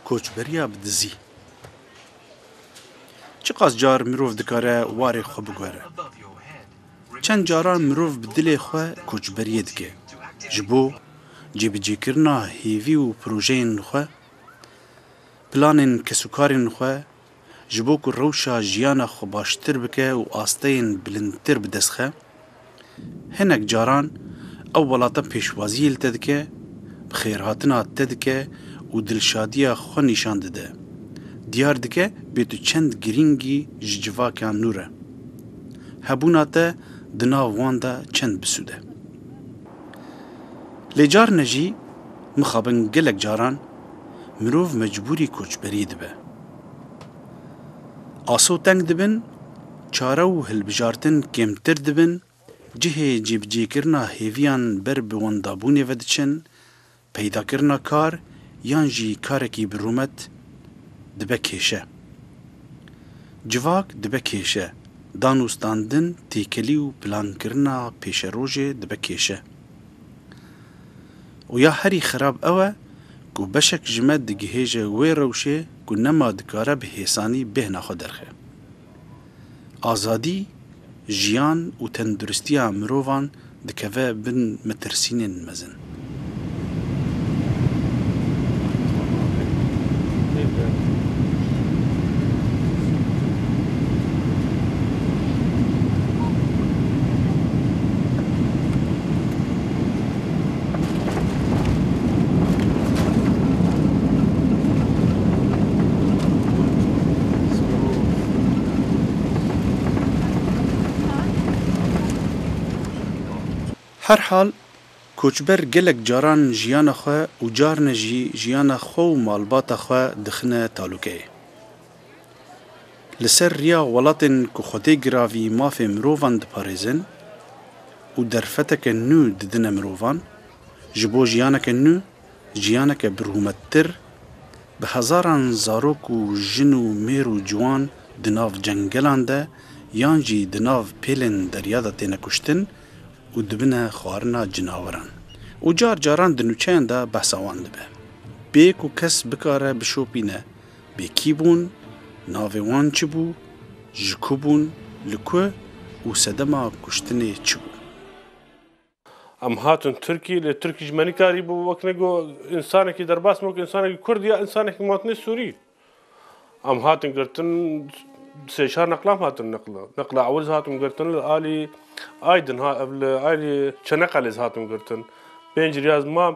Koçberiya bi dizî. Çiqas car mirov dikare warê xwe bigore? Çend caran mirov bi dilê xwe koçberiyê dike. Ji bo cêbicêkirina hêvî û projeyên xwe, planên kesûkarên xwe, ji bo ku rewşa jiyana xwe baştir bike û asteyên bilindtir bi dest xe, hinek caran ew welata pêşwaziyê li te dike, bi xêrhatina te dike û dilşadiya xwe nîşan dide. Diyar dike bê tu çend girîngî ji civakean nû re. Hebûna te di nav wan de çend bi sûd e. Lê carine jî mixabin gelek caran mirov mecbûrî koçberî dibe. Aso teng dibin, çare û hilbijartin kêmtir dibin, cihê cêbicêkirina hêviyan ber bi wendabûnê vediçin, Peydakirina kar yan jî karekî bi rûmet dibe kêşe. Civak dibe kêşe, dan û standin, têkelî û plankirina pêşerojê dibe kêşe. Û ya herî xerab ew e ku beşek ji me digihêje wê rewşê ku nema dikare bi hêsanî bêhna xwe derxe. Azadî, jiyan û tenduristiya mirovan dikeve bin metirsînên mezin. Her hal, koçber gelek caran jiyana xwe û carine jî jiyana xwe û malbata xwe dixine talûkeyê. Li ser riya welatên ku xwedê giravî mafê mirovan diparêzin û derfeteke nû didine mirovan, ji bo jiyaneke nû, jiyaneke birûmettir, bi hezaran zarok û jin û mêr û ciwan di nav cengelan de yan jî di nav pêlên derya de têne kuştin û dibine xwarina cinaweran û car caran di nûçeyan de behsa wan dibe bê ku kes bikare bişopîne Bi kî bûn, navê wan çi bû, ji ku bûn, li ku û sedema kuştinê çi bû? Em hatin Tirkiyê, lê Tirkî ji me nikarî bû wek ne ku însanekî derbas me wek însanekî Kurd ya însanekî matine Sûrî. Em hatin girtin, sê çar neqlam hatin neql. Neqla ewil hatin girtin li alî Aydin ha ev li alî Çeneqelê hatin girtin. Pênc riyaz ma.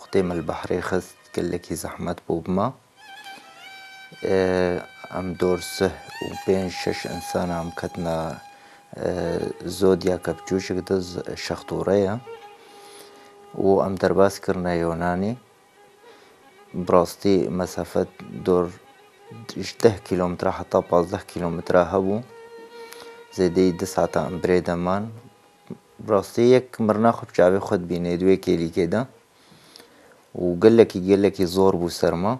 Xwedê me li behrê xist gelekî zehmet bo bima. Em dor sih û pênc şeş însan em ketina zodyaka biçûşik de şextoreya û em derbas kirine Yonanê. Bi rastî mesafet dor ji deh kîlometre heta pazdeh kîlometre hebû. Zêdeyî di sata em birêde man. Bi rastî yek mirina xwe bi çavê xwe dibînê di wê kêlîkê de û gelekî gelekî zor bû ser me.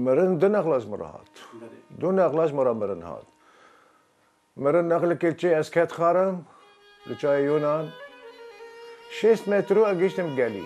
Mirin du nexla ji min re hat. Du nexla ji min re mirin hat. Mirin nexlikê çê ez ket xarim li çayê Yunan. Şêst metr û ez gihiştim gelî.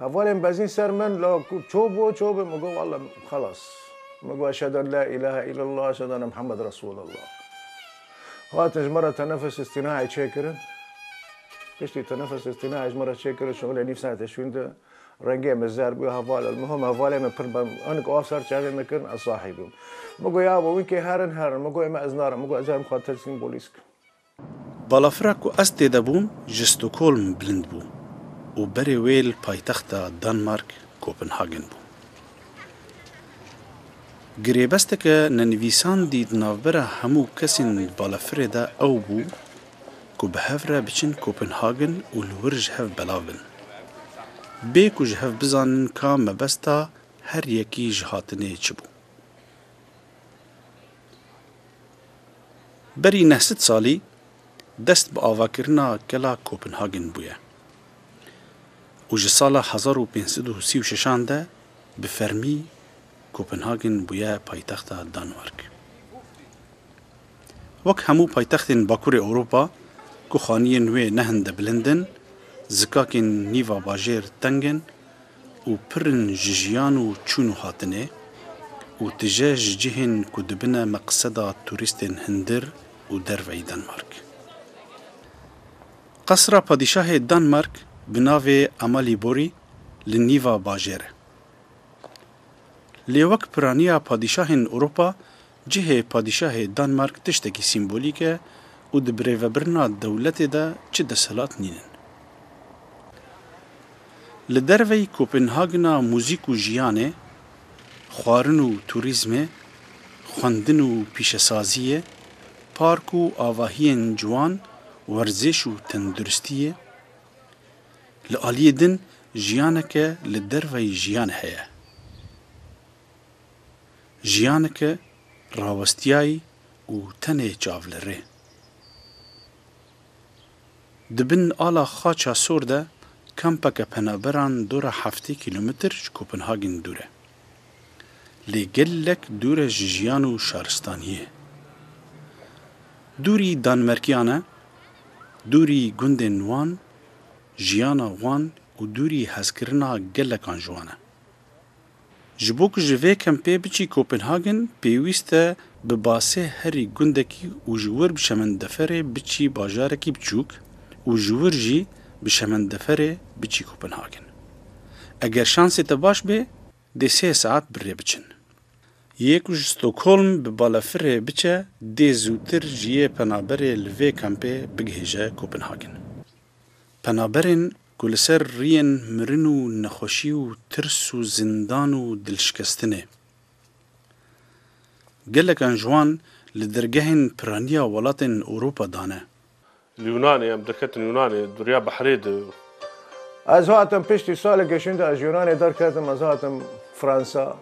Hevalên bezîn ser min la ku ço bo ço be min got walla xelas. Min got eşhedû en la îlahe îllellah eşhedû enne Muhammed Resûlullah. Hatin ji min re tenefes îstînayê çêkirin. Piştî tenefes îstînayê ji min re çêkirin şolê nîv saetê şûnde rengê min zer bû heval em hom hevalên min pir bang bûn hinek av ser çavên min kirin ez sahî bûm. Min got ya bo wînkê herin herin min got ême ez narim min got ez ê em xwe teslim polîs bikim. Balafira ku ez tê de bûm ji Stockholm bilind bû û berê wê li paytexta Danmark Kopenhagen bû. Girêbesteke nenivîsandî di navbera hemû kesên di balafirê de ew bû ku bi hev re biçin Kopenhagen û li wir ji hev belav bin. Bê ku ji hev bizanin ka mebesta her yekî ji hatinê çi bû. Berî neh sed salî dest bi avakirina Gela Kopenhagen bûye û ji sala hezar û pênc sed û sî û şeşan de bi fermî Kopenhagen bûye paytexta Danmark. Wek hemû paytextên Bakurê Ewropa ku xaniyên wê ne hinde bilind in, zikakên nîva bajêr teng in û pir in ji jiyan û çûn û hatinê û tije ji cihên ku dibine meqseda turîstên hundir û derveyî Denmark. Qesra padîşahê Denmark bi navê Amaliborî li nîva bajêr e. Lê wek piraniya padîşahên Ewropa Cihê padîşahê Danmark tiştekî sîmbolîk e û di birêvebirina dewletê de çi desthilat nîn in. Li derveyî Kopenhagena muzîk û jiyanê, xwarin û turîzmê, xwendin û pîşesaziyê, park û avahiyên ciwan, werzêş û tenduristiyê, li aliyê din jiyaneke li derveyî jiyan heye. Jiyaneke rawestiyayî û tenê çav li rê. Di bin ala Xaça Sor de kampeke penaberan dora heftê kîlometr ji Kopenhagên dûr e. Lê gelek dûr e ji jiyan û şaristaniyê. Dûrî Danmerkiyan e, dûrî gundên wan, jiyana wan û dûrî hezkirina gelekan ji wan e. Ji bo ku ji vê kempê biçî Kopenhagen pêwîst e bi basê herî gundekî û ji wir bi şemendeferê biçî bajarekî biçûk û ji wir jî bi şemendeferê biçî Kopenhagen. Eger şansê te baş bê dê sê saet bi rê biçin. Yê ku ji Stockholm bi balafirê biçe dê zûtir ji yê penaberê li vê kempê bigihêje Kopenhagen. Penaberên Ku li ser riyên mirin û nexweşî û tirs û zindan û dilşikestinê. Gelekan ji wan li dergehên piraniya welatên Ewropa da ne. Li Yunanê, em derketin Yunanê, Derya Behrê di. Ez hatim piştî salekê şûnde ez ji Yunanê derketim, ez hatim Fransa,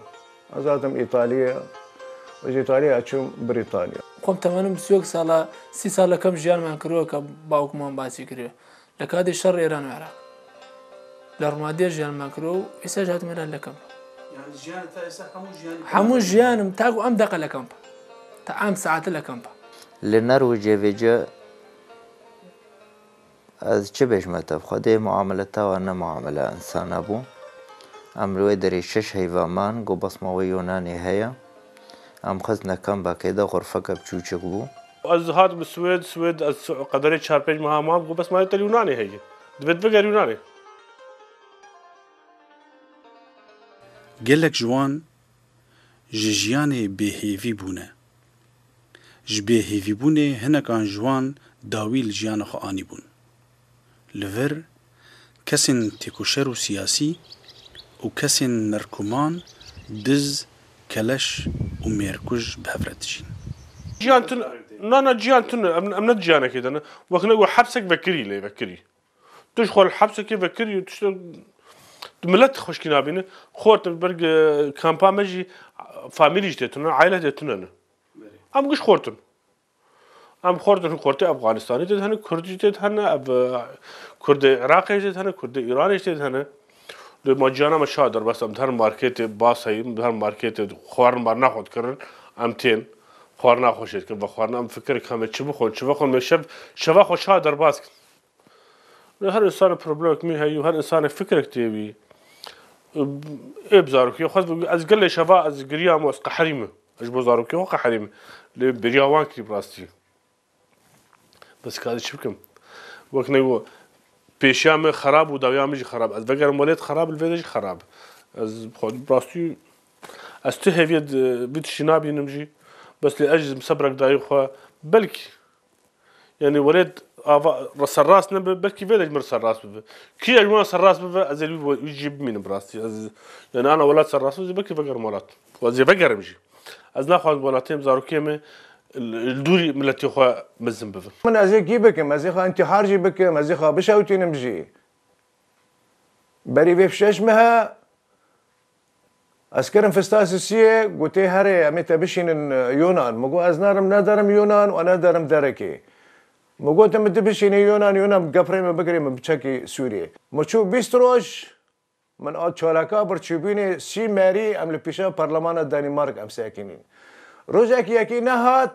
ez hatim Îtalya û ji Îtalya ez çûm Brîtanya. Xwem temenim siyok sal a, sî sal a kem jiyan me kirok a bawk man basî kiriyo. Li kadê şerê Îran û Iraq li rûnadîya jiyan me kir û îstaj hatime re li kamp. Yani jiyanê te îsa hemû jiyanê te. Hemû jiyanim ta ku em deqe li kamp e. Ta em saete li kamp e. Li Norwecê vê ci ez çi bêjme te bi xwe dê muamele te wa ne muamele insana bû. Em li wê derê şeş heyva man, got basma wê Yonanê heye. Em xistine kambakê de xurfeke biçûçik bû. Ez hatim Swêd, Swêd ez qederê çar pênc meha mam, got bes malê te li Yunanê heye. Divêt biger Yunanê. Gelek ji wan ji jiyanê bêhêvî bûne. Ji bêhêvîbûnê hinekan ji wan dawî li jiyana xwe anîbûn. li vir kesên têkoşer û siyasî û kesên merkuman, diz, keleş û mêrkuj bi hev re dijîn. Jiyan tune, na na jiyan tune, em ne di jiyanekê de ne. Wek ne got hepsek vekirî lê vekirî. Tu ji xwe li hepsekê vekirî û tu ji tu milet xweşkî nabîne. Xwe tu li ber kampa me jî famîlî jî tê tune, eile jî tê tune ne. Em giş xwe tune. Em xort in xortê Efxanistanê tê de hene, Kurd jî tê de hene, ev Kurdê Iraqê jî tê de hene, Kurdê Îranê jî tê de hene. Lê ma ciyana me çawa derbas em di her marketê bas heyîn, di her marketê xwarin-marina xwe dikirin, em tên xwarina xwe jê dikin. Vexwarina em fikirek heme çi bixwin, çi vexwin, mê şev şeva xwe çawa derbas dikin? Her însanek problemek nû heye û her însanek fikrek tê wî. Ê bi zarokiya xwe ve ez gelê şeva ez giriyam û ez qeherî me. Ez ji bo zarokiya xwe qeherî me. Lê bêriya wan kirî bi rastî. Bes karî çi bikim? Wek ne got pêşiya me xerab û dawiya me jî xerab. Ez vegerim welêt xerab li vê de jî xerab. Ez bi xwe bi rastî ez tu hêviya vî tiştî nabînim jî. Bes lê ez ji sebrek dayî xwe belkî. Yanî welêt ava serrast nebe belkî vê de ji min re serrast bibe. Kî ji min re serrast bibe ez ê wî jî bimînim bi rastî. Ez yanî ana welat serrast bibe belkî vegerim welat û ez ê vegerim jî. Ez naxwazim welatiyê min, zarokiyê min li dûrî miletê xwe mezin bibin. Min ez ê kî bikim? Ez ê xwe întîhar jî bikim, ez ê xwe bişewitînim jî. Berî vê fişeş mihe. Eskerim Fistasisiyê gotê herê em ê te bişînin Yonan. Min got ez narim ne derim Yonan û ne derim derekê. Min got min tu bişînî Yonan Yonan bi gefrê min bigirê min biçakî Sûriyê. Min çû bîst roj min a çalaka bir çûbînê sî merî em li pîşa parlemana Danîmark em sekinîn. Rojek yekî nehat.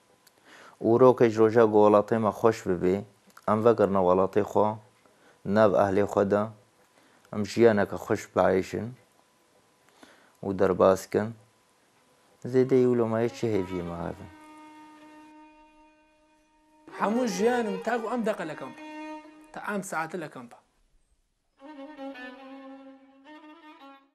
Û rokê ji roja ku welatê me xweş bibê, em vekirine welatê xwe, nav ehlê xwe de, em jiyaneke xweş biaîşin û derbas bikin. Zêdeyî wilo me yê çi hêviyê me hev in? Hemû jiyanim ta ku em deqe li kamp in, ta em saete li kamp in.